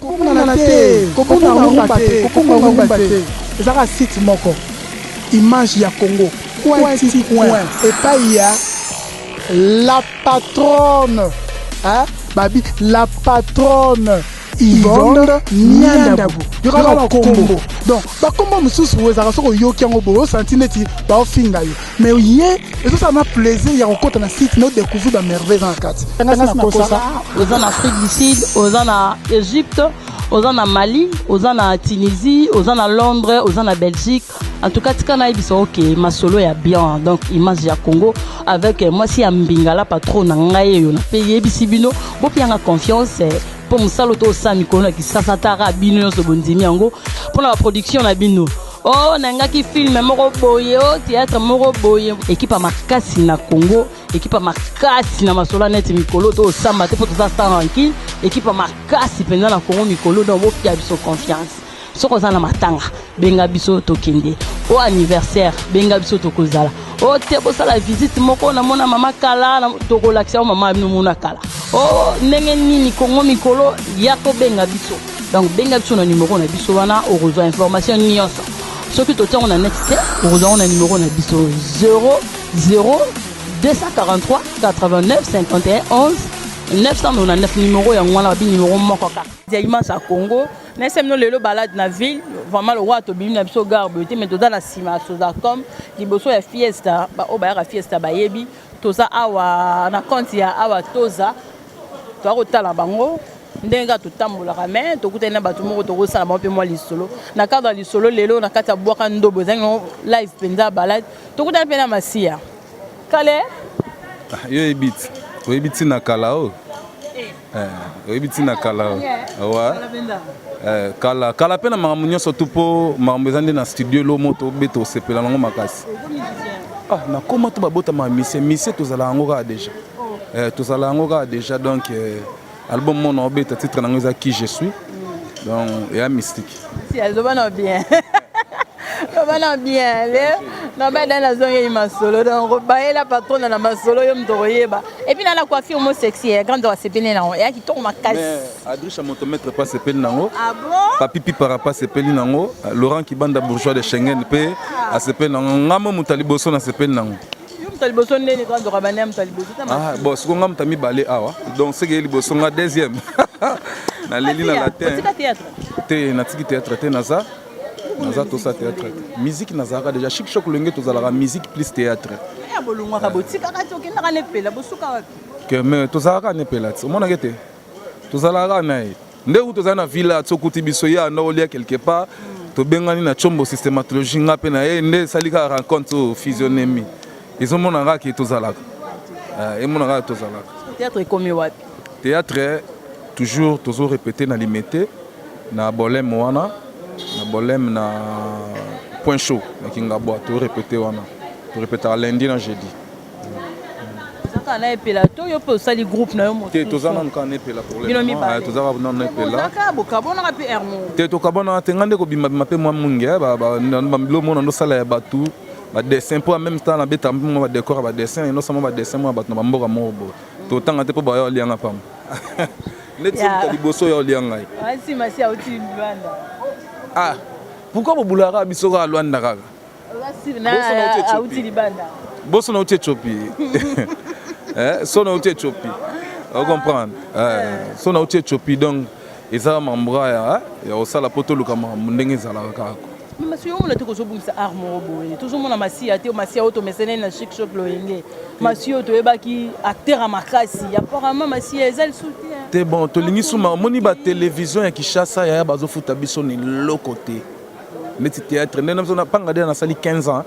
Kokunana te, kokunga rumba te, kokunga rumba te. Ezaka site moko image ya Congo point ti point epai ya la patronne hein? babi la patronne Yvonne Niandabu yokaka bakombo donc bakombo mosusu ezalaka soki oyoki yango boye osanti neti baofinga yo mais ye ezosala ma plaisir ya kokota na site no découvrir ba merveille eza na kati angasi na kosa oza na afrique du sud oza na egypte oza na mali oza na tunisie oza na londres oza na belgique en tout cas tika nayebisa oke masolo ya bien donc image ya congo avec eh, mwasi ya mbingala patron na ngai eyo na mpe yebisi bino bopianga confiance eh, mpo mosala oto osala mikolo na kisasa tara bino nyonso bondimi yango mpo na baproduction na bino Oh nangaki film moko boye oh théâtre moko boye ekipa makasi na Congo ekipa makasi na masola neti mikolo to osamba te po toza sans rancune ekipa makasi mpenza na Congo mikolo donc botia biso confiance soki oza na matanga benga biso tokende o anniversaire benga biso tokozala o te bosala visite moko namona mama kala tokolakisa o mama nomona kala o ndenge nini kongo mikolo ya kobenga biso Donc benga biso na numero na biso wana okozwa information nyonso. Soki totia yango na net te, okozwa yango na numero na biso 00 243 89 51 11 999 numero yango wana babi numero moko kaka. Dialimans ya Congo, na esemino lelo balade na ville, vraiment lokola tobimi na biso gare boye te, mais toza na nsima ya Sozacom, liboso ya Fiesta, baoyo bayaka Fiesta bayebi, toza awa na compte ya awa toza toya kotala bango ndenge kaka totambolaka me tokutani na bato moko tokosala bango mpe mwa lisolo na cadre ya lisolo lelo na kati ya bwaka ndobo ezangi no live mpenza balade tokutani mpe na masiya kale ah, yo oyebi ti oyebi ntina kala oyo eh. eh, oyebi ntina kala oyo awa eh, kala kala mpe na makambo nyonso tu mpo makambo eza nde na studio elo moto obeta osepela nango makasi ah, nakoma to babotama misie misie tozala yango kaka deja Eh, tozala yango kaka déjà donc eh, album moko na obeta titre nango eza qui je suis donc eya mystique si azoba na bien loba na bien le nabada nazongeli masolo donc bayela patrona na masolo yo moto okoyeba epuis na na coiffure mo sexy ya grande asepeli nango eya kitoko makasi adrisha moto maître pa asepeli nango ah papi pipara pa asepeli nango laurent kibanda bourgeois de schengen mpe ah. asepeli nango ngambo moto ya liboso nasepeli nango Yo moto liboso nde niko nzoka bande ya moto liboso ta ah bon siko nga moto mibale awa donc seke liboso nga deuxième na leli na latin te na tiki théâtre te naza naza tosa théâtre musique nazalaka déjà chic choc lenge tozalaka musique plus théâtre ya bolongwaka botikaka te okendaka nepela bosuka wapi keme tozalaka nepela te omonaka ete tozalaka na ye nde kutu ozali na villa sokuti biso ye anda olia quelque part tobengani na chombo systematologie nga mpe na ye nde esali kaka rencontre oyo fusionemi ezomona kaka ke tozalaka eh, emona kaka tozalaka théâtre ekomi wapi théâtre toujours tozo répéter na limete na bolème wana na bolème na point chaud na kingabwa to répéter wana to répétaka lundi na jeudi kaka na epela to yo mpe osali groupe na yo mosusu te toza nanu kaka na epela pour bino mibale toza kaka nanu na epela kaka bokabonaka mpe hermo te tokabonaka te ngai nde kobima bima mpe mwa mungi bilo mona ndosala ya bato badessin mpo en même temps nabetaka mpe mwa badecor ya badessin endosama badessin mwa bato na bamboka moko boye totanga te mpo baya olianga pamba neti sokuta liboso ya olia ngai ah pourquoi bobulaka biso kaka lwanda kaka boso na uti etiopi eh, so na uti etiopi ocomprendre eh, so na uti etiopi donc eza mambra ya kosala mpo toluka makambo ndenge ezalaka kaka masiya omona te kozobungisa art moko boye tozomona masiya te masiya oyo tomesene na chic shop loyenge masiya oyo toyebaki acteur ya makasi apparemment masiya eza lisu te te bon tolingi suma omoni batelevizio ya kishasa yaya bazofuta biso na eloko te neti théâtre nde na biso na panga de nasali 15 ans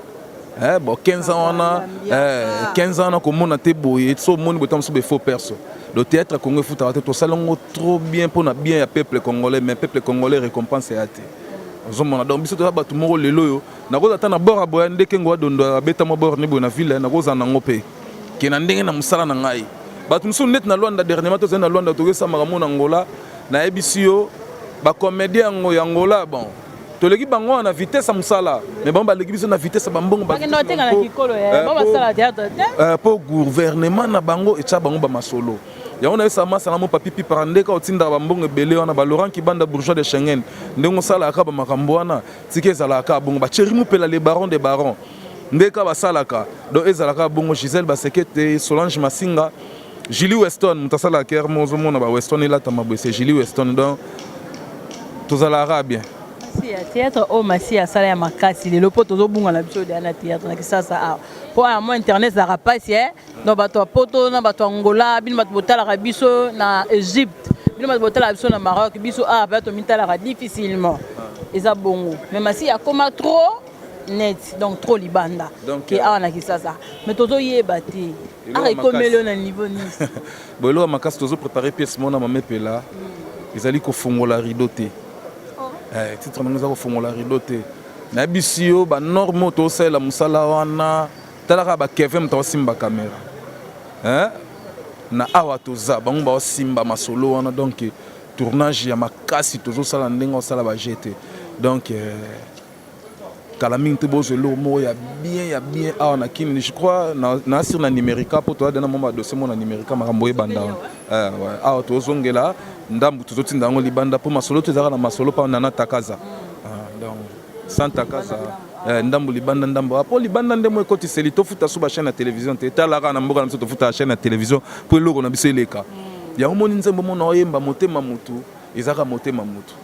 eh, bon 15 ans wana eh, 15 ans nakomona te boye so omoni boye ntango mosusu befaux perso le théâtre congo efutaka te tosali yango trop bien mpo na bien ya peuple congolais mais peuple congolais récompense ya te ozomona donc biso toza bato moko lelo oyo nakozala ata na bord ya boya ndeke ngoa dondo abeta mwa bord ne boye na ville nakozala nango mpe ke na ndenge na mosala na ngai bato mosusu neti na lwanda dernièrement tozali na lwanda tokesa makambo na ngola nayebisi yo bacomédien yango ya ngola bon toleki bango wana na vitesse ya mosala me bango baleki biso na vitesse ya bambongo mpo eh, gouvernement na bango etya bango bamasolo yango nayesa masana mo papi pipara ndeka otindaka bambongo ebele wana balaurent kibanda bourgeois de schengen ndenge osalaka bamakambo wana tika ezalaka bongo baceri mopela le baron de baron nde ka basalaka donc ezalaka bongo Gisèle Basekete Solange Masinga Julie Weston moto asalaka kere mo ozomona ba Weston elatama boye se Julie Weston donc tozalaka bien théâtre oyo oh, masi asala ya makasi lelo mpo tozobunga na biso deya na théâtre na kisasa awa mpo aya mo internet ezalaka mpasi e eh? donc bato ya poto na bato ya ngola bino bato botalaka biso na egypte bino bato botalaka biso na maroc biso awa mpe tomitalaka difficilement eza bongo mais masi akoma trop net donc trop libanda donc, ke euh, awa na kisasa mais tozoyeba te aka ekomeli yo na niveau nini bo eloko makasi tozo prépare pièce mona mamepela mm. ezali kofungola rideau te oh. eh, titre nango eza kofungola rideau te nayebisi yo banorme oyo tosalela mosala wana talaka bakeve moto aosimba kamera eh? na awa toza bango baosimba masolo wana donc tournage ya makasi tozosala ndenge osala baje te donc eh, kala mingi te bozo eloko moko ya bien ya bien awa na kin je crois na sur na numerica po toza dena mwa badosie moko na numerica makambo oyo ebanda wana eh, awa tozongela ndambu tozotinda yango libanda po masolo to ezalaka na masolo pa nana takaza ah, donc sans takaza eh, ndambu libanda ndambu apo ah, libanda nde mo ekotiseli tofuta so bachaine ya télévision te etalaka na mboka na biso tofutaka chaine ya télévision po eloko na biso eleka yango moni nzembo mona oyemba motema motu ezalaka motema motu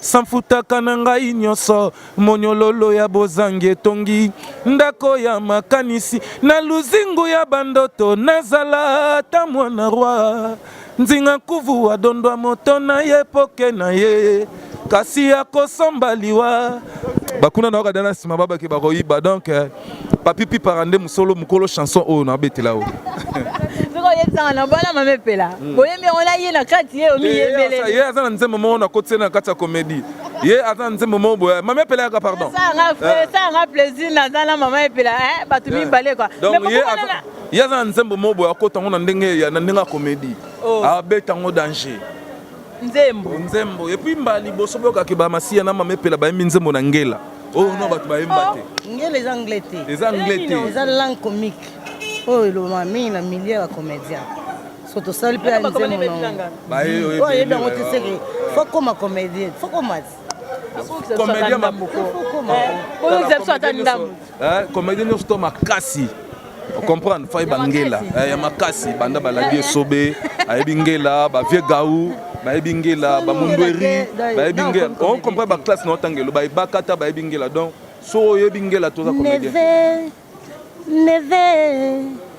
sanfutaka na ngai nyonso monyololo ya bozangi etongi ndako ya makanisi na luzingu ya bandoto nazala ata mwana rwa nzinga nkuvu adondwa moto na ye poke na ye kasi akosomba liwa bakuna na wakadana nsima babaki bakoyiba donc eh, Papi Pipara nde musolo mukolo chanson oyo na betela oyo. Soko yebisanga na bana mame pela. Hmm. Boyembi yango na ye na kati ye omi yebele. Eh, ye aza na nzembo moko na koti na kati ya comédie. Ye aza na nzembo moko boya. Mame pela yaka pardon. Ça nga eh. ça nga plaisir na za na mama epela eh batu eh. mibale quoi. Donc ye aza ye aza na nzembo moko boya kota ngo na ndenge ya na ndenge ya comédie. Oh. Abeta ngo danger. nzembo nzembo et puis mba liboso boyoka ke ba masiya na mama epela bayembi nzembo na ngela oyo oh, no bato bayemba te oh, ngela eza anglais te eza anglais te eza langue comique oyo oh, elobama mingi na milieu ya comédien so tosali mpe nzemboayebi yango te seke fokoma comédien fokoma comédien mabuko oyo biso ata ndambo Eh, comédie nyonso to makasi comprendre fai bangela eh, ya makasi banda balandi esobe ayebi ngela bavie gau bayebi ngela bamundweri bayebi ngela on comprend baklasse na otanga eloba ebakata bayebi ngela donc so oyebi ngela toza comédien neve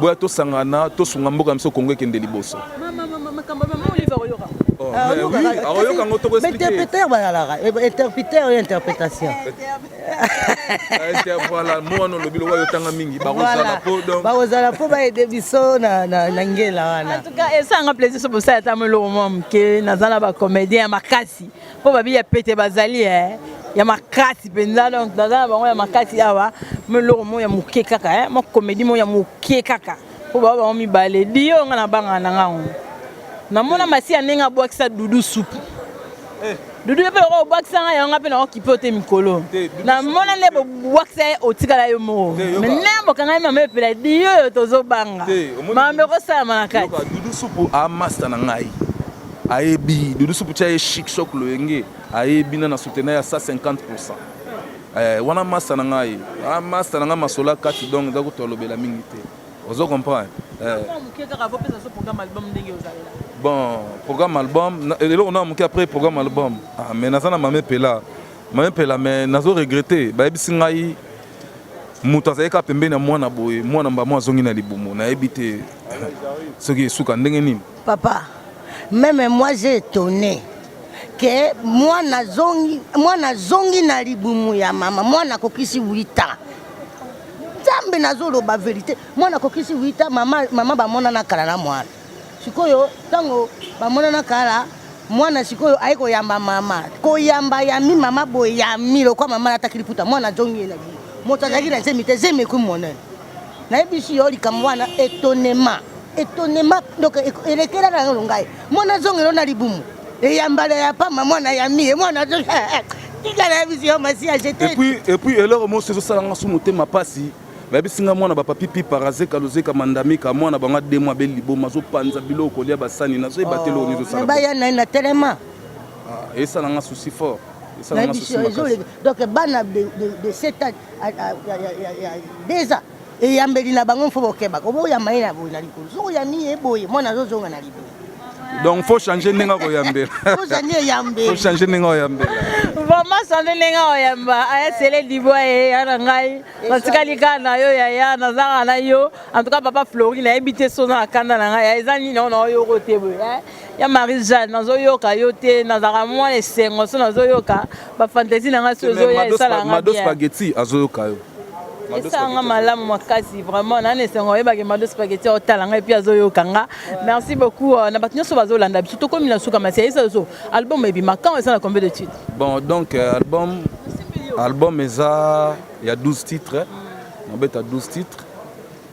boya tosangana tosunga mboka na biso kongo ekende liboso akoyoka ngo tokointerpreteur balalaka interpreteur oyo interpretation voilà mwana olobi lokola yotanga mingi bakozala po donc bakozala po baede biso na na ngela wana en tout cas esanga plaisir so bosala ata moloko mwa moke naza na bacomédien ya makasi mpo babi ya pete bazali eh, ya makasi mpenza donc naza na bango ya makasi awa meloko moko ya moke kaka eh, mwa komedi moko ya moke kaka mpo baba bango mibale dio nga nabangana na ngango namona masi ya ndenge abwakisa dudu supu eh. dudu yo mpe oko obwakisa ngai yango ngai mpe nakokipe te mikolo namona nde bobwakisa ye otikala yo moko me nde bokangami mama epela dio oyo tozobanga mambe ekosalama na kati dudu supu amasta na ngai ayebi dodo supu tia ye chic choc loyenge ayebi na na soutenir ya 150 pourcent eh, wana masta na ngai ah, masta na ngai masola kati donc eza kutu alobela mingi te ozo comprendre eh. bon programme album eloko na moke après programme album ah, mais naza na mame pela mame pela mais nazo regrette bayebisi ngai moto azalaki kaka pembeni ya mwana boye mwana mbamo azongi na libumu nayebi te soki esuka ndenge nini Papa, meme moi j'ai etonne que mwana zongi, mwana zongi na libumu ya mama, mwana akokisi 8 ans. Nzambe nazoloba verite, mwana akokisi 8 ans, mama, mama bamonana kala na mwana. Sikoyo ntango bamonana kala mwana sikoyo aye koyamba mama koyamba yami mama boyami lokola mama alataki liputa mwana azongi ye na bino moto azalaki na zemi te zemi ekui monene nayebisi yo likambo wana etonema etonema donc elekela na yango ngai mwana azongelo na libumu eyambala ya pamba mwana ya mie mwana eh, eh, tika nayebisi yo masiya epuis eloko mosi ezosala nga su motema mpasi bayebisi nga mwana bapapipi parazeka lozeka mandamika mwana bango ademo abeli liboma azopanza biloko kolia basani nazoyeba te eloko nizosalaebaya oh, na ye na telema ah, esala nga susi fort donc bana de 7 ans deja eyambeli na bango mfo bokebaka oboyamba ye na boye na likolo soki oyambi ye boye mwana azozonga na liboye donc faut changer ndenge akoyambela faut changer ndenge oyambela vraiment changer ndenge oyamba aya sele libwa ye ya na ngai natikali kaka na yo yaya nazanga na yo en tout cas papa flori nayebi te so na kanda na ngai eza nini ona oyoko te boye ya marie jeanne nazoyoka yo te nazalaka mwana esengo so nazoyoka ba fantaisie na nga si ozoya esala nga bien spaghetti azoyoka yo esanga malamu makasi vraiment nani esengo oyebaki mado spageti otala ngai mpe azoyoka nga merci beaucoup euh, na bato nyonso bazolanda biso tokomi na suka masi ayesa biso album ebima quand eza na combien de titre bon donc euh, album album eza ya 12 titre nabeta 12 titre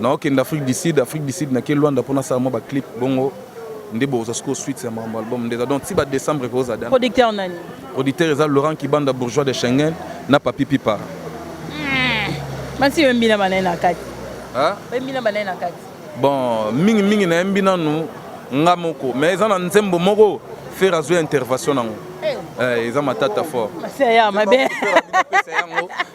Naokende Afrique du Sud, Afrique du Sud nake Luanda mpo nasala mwa ba clip bongo nde bokozwa sikoyo suite ya makambo album nde eza donc ti ba décembre ekozala dana Producteur nani? producteur eza laurent kibanda bourgeois de schengen na papi pipa Basi oyembi na banaye na kati. Ah, Oyembi na banaye na kati. bon mingi mingi nayembi nanu nga moko mais eza na nzembo moko fere azwi intervention nango eh, eza matata fort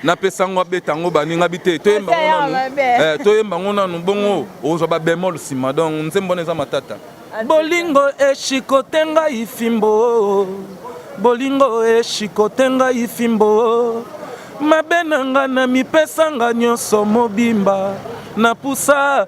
napesa yango abeta yango baninga bi te toyemba yango eh, nanu bongo ozwa babemol nsima donc nzembo wana eza matata bolingo eshikote ngai fimbo bolingo eshikote ngai fimbo mabe na nga na mipesa nga nyonso mobimba napusa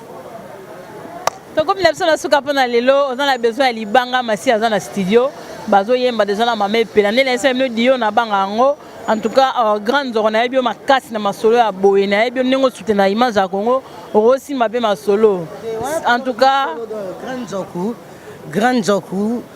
tokomi na biso na suka mpo na lelo oza na besoin ya libanga masi aza na studio bazoyemba deja na mama epela nde nayesaki bino dio nabanga yango en tout cas euh, grand nzoko nayebi yo makasi na masolo ya boye nayebi yo ndenge osute na image ya congo okosimba mpe masolo en tout cas grand nzoku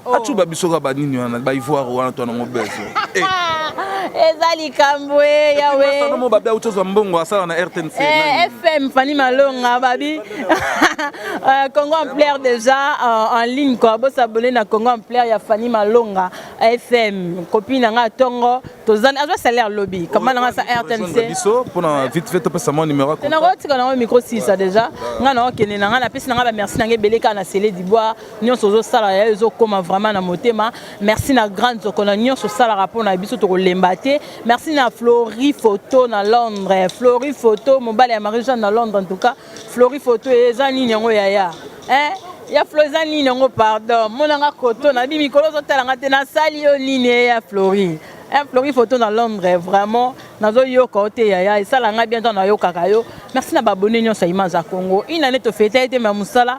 Oh. acuba biso ka banini wana baivoire wana to nango bezo eh. eza likambo e yaweasanomo babi auti ozwa mbongo asala na rtnc eh, fm fani malonga babi euh, congo amplaire déjà euh, en ligne kua bosabone na congo amplaire ya fani malonga fm kopi na ngai tongo tozani azwa salaire lobi kama na ngai sa rtnc biso mpona vite fait topesa mwa numero nakotika nango micro sisa déjà ngai naokende na ngai napesi na ngai bamerci na ngai ebele kaka na sele dibwa nyonso ozosala ya ezokoma vraiment na motema merci na grande zoko na nyonso osalaka mpo na biso tokolemba te merci na flori photo na londres flori photo mobali ya marie jeanne na londres en tout cas flori photo eza nini yango yaya eh? ya flo eza nini yango pardon monanga koto na bi mikolo ozotala nga te nasali yo nini eh, ya flori eh, flori photo na londres vraiment nazoyoka yo te yaya esala ngai bien ntango nayokaka yo merci na babone nyonso ya imaza congo inane tofeta ete ma mosala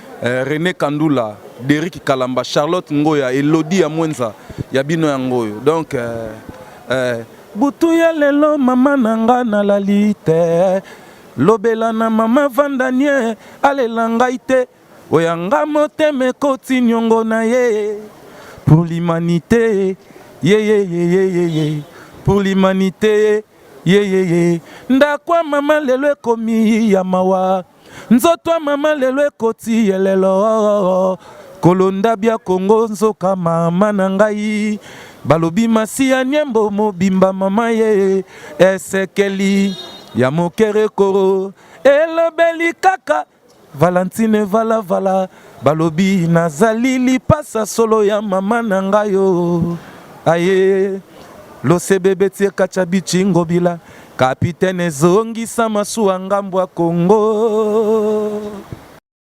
Eh, Rene Kandula, Derrick Kalamba, Charlotte Ngoya, Elodie ya Mwenza, ya bino yango oyo. Donc euh, euh, butu ya lelo mama na nga nalali te lobela na mama vandanie alela ngai te oya nga motema ekoti niongo na ye pour l'humanité yeyeyeyeye pour l'humanité yeyeye ndako ya mama lelo ekomi ya mawa Nzoto ya mama lelo ekoti yelelo kolonda bya Kongo nzoka mama na ngai balobi masiya nyembo mobimba mama ye esekeli ya mokerekoro elobeli kaka valentine valavala Balobi nazali lipasa solo ya mama na ngai yo aye losebebe tie kacha bichingobila kapitene ezongisa masuwa ngambo ya Kongo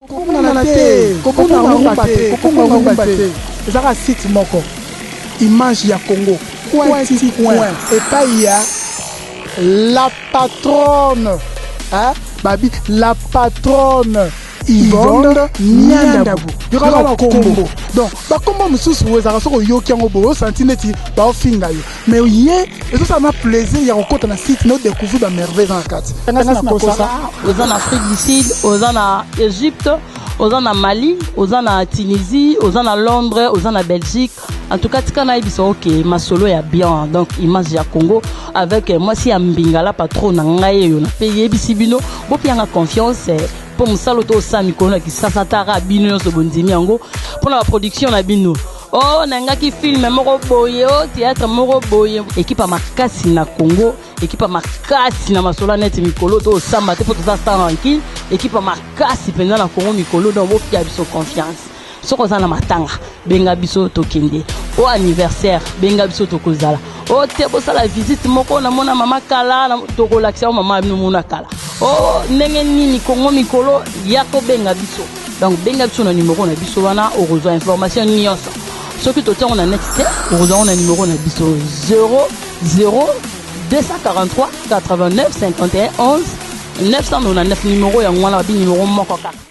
kokumana te kokoma rumba te kokoma rumba te ezaka site moko image ya Congo coin ti coin epai ya la patronne hein babi la patronne Yvonne Nyandabu yokaka bakombo donc bakombo mosusu ezalaka soki oyoki yango boye osanti neti baofinga yo mais ye ezosala na plaisir ya kokota na site na odecouvrir bamerveille eza na kati ngasi nakosa oza na afrique du sud oza na egypte oza na mali oza na tunisie oza na londres oza na belgique En tout cas, tika nayebisa ok masolo ya bien donc image ya Congo avec euh, mwasi ya mbinga la patron na ngai eyo nape yebisi bino bopianga confiance eh, mpo mosala to osala mikolo na kisasa tara bino nyonso bondimi yango mpo na baproduction na bino o oh, nangaki filme moko boye o oh, théâtre moko boye ekipa makasi na congo ekipa makasi na masolo neti mikolo to osamba te mpo toza sans rankine ekipa makasi mpenza na congo mikolo donc bopia biso confiance soki oza na matanga benga biso tokende o anniversaire benga biso tokozala o te bosala visite moko namona mama kala tokolakisa yo mama bino mona kala o ndenge nini kongo mikolo ya kobenga biso donc benga biso na nimero na biso wana okozwa information nyonso soki totiango na net te okozwango na nimero na biso 00 243 89 51 11 999 nimero yango wana babi nimero moko kaka